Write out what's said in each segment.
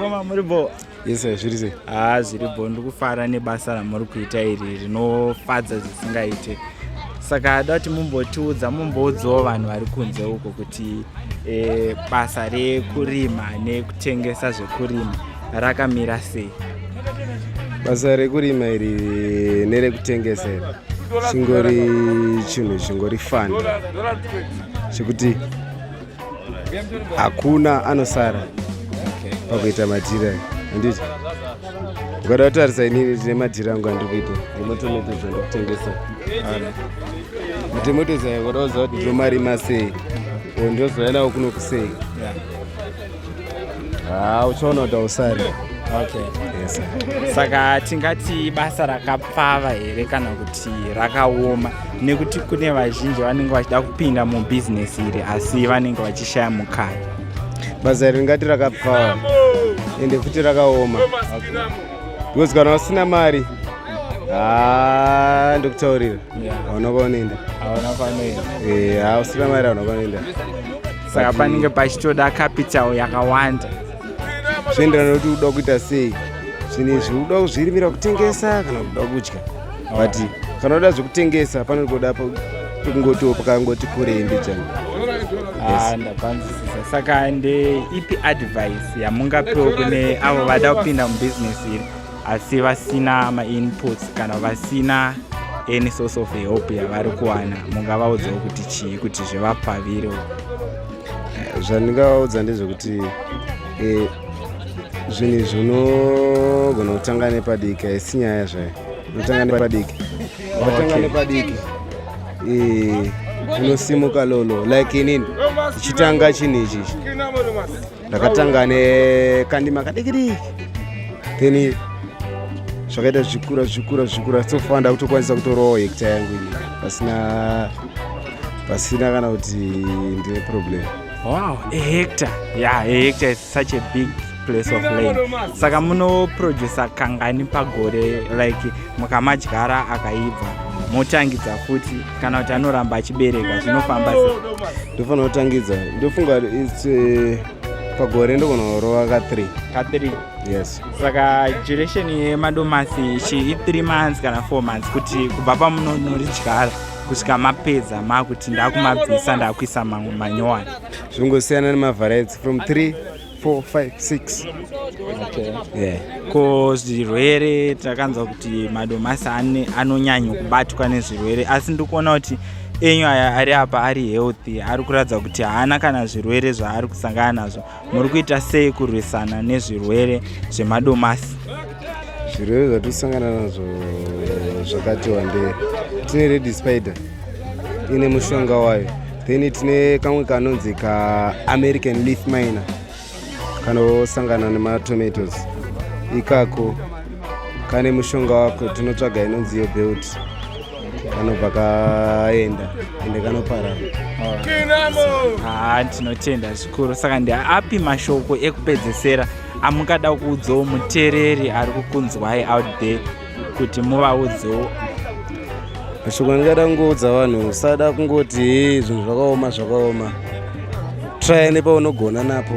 Koma muri bo. Yes, zviri sei? Ah, zviri bo ndikufara nebasa ramuri kuita iri rinofadza zvisingaite. Saka ada kuti mumbotiudza mumboudzawo vanhu vari kunze uko kuti eh, basa rekurima nekutengesa zvekurima rakamira sei? Basa rekurima iri nerekutengesa iri chingori chinhu chingori fani chekuti hakuna anosara pakuita madhira handiti ukada kutarisa inini tine madhira angu andikuita nematometoes andikutengesa matometoes ayo ukada kuziva kuti ndomarima sei o ndozouya nawo kuno kusei ha uchaona kuti ausari saka tingati basa rakapa pfava here kana kuti rakaoma nekuti kune vazhinji vanenge vachida kupinda mubhizinesi iri asi vanenge vachishaya mukana basa iri ringati rakapfava ende futi rakaoma because kana usina mari ah, ndokutaurira hauna kwaunoenda hauna kwaunoenda eh, hausina mari hauna kwaunoenda saka panenge pachitoda capital yakawanda zvoenderana kuti uda kuita sei zvinhu izvi uda kuzvirimira kutengesa kana kuda kudya but kana uda zvekutengesa panoda kungotiwo pakangoti kurei mbijana ah, ndapanzisisa saka ndeipi advice yamungapiwo kune avo vada kupinda mubusiness iri asi vasina mainputs kana vasina any source of help yavari kuwana mungavaudzawo kuti chii kuti zvivapfavirewo zvandingavaudza ndezvekuti eh, zvinhu izvi unogona kutanga nepadiki haisi nyaya zvayo unotanga nepadiki unotanga nepadiki eh, unosimuka lolo like inini ichitanga chinhu ichi ndakatanga nekandima kadikidiki then zvakaita zvikura zvikura zvikura so far ndakutokwanisa kutorowo hekta yangu ini pasina pasina kana kuti ndine problem wow a hector yeah a hector is such a big place of land saka munoproducer kangani pagore like mukamadyara akaibva motangidza futi kana kuti anoramba achibereka zvinofamba ndofanira kutangidza ndofunga its eh, pagore ndogona kurova ka 3 ka 3 yes saka duration yemadomasi chi i 3 months kana 4 months kuti kubva pamunonoridyara kusvika mapedza makuti ndakumabvisa ndakuisa mamwe manyowani zvingosiyana nemavariety from 3 4 5 6 okay. yeah. ko zvirwere takanzwa kuti madomasi anonyanyo kubatwa nezvirwere asi ndikuona kuti enyu aya ari apa ari healthy ari kuratidza kuti haana kana zvirwere zvaari kusangana nazvo muri kuita sei kurwisana nezvirwere zvemadomasi zvirwere zvatikusangana nazvo zvakati wandei tine red spider ine mushonga wayo then tine kamwe kanonzi kaamerican leaf miner kanosangana nematomatoes ikako kane mushonga wako tinotsvaga inonzi yobelt kanobva kaenda ende kanoparara ah, tinotenda zvikuru saka ndeapi mashoko ekupedzesera amungada kuudzawo mutereri ari kukunzwai out there kuti muvaudzewo mashoko andingada kungoudza vanhu usada kungoti zvinhu zvakaoma zvakaoma traya nepaunogona napo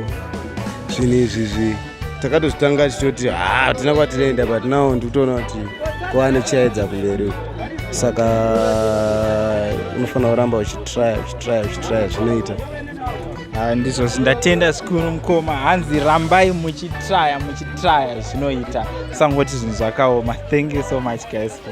zvinhu izvizvi takatozvitanga tichitoti ha ah, tina kwatinoenda but now ndikutoona kuti kwava nechiyaedza kumberi uku saka unofanira kuramba uchitraya uchitraya uchitraya zvinoita ah, ndizvo zvindatenda zvikuru mukoma hanzi rambai muchitraya muchitraya zvinoita sangoti zvinhu zvakaoma thank you so much guys for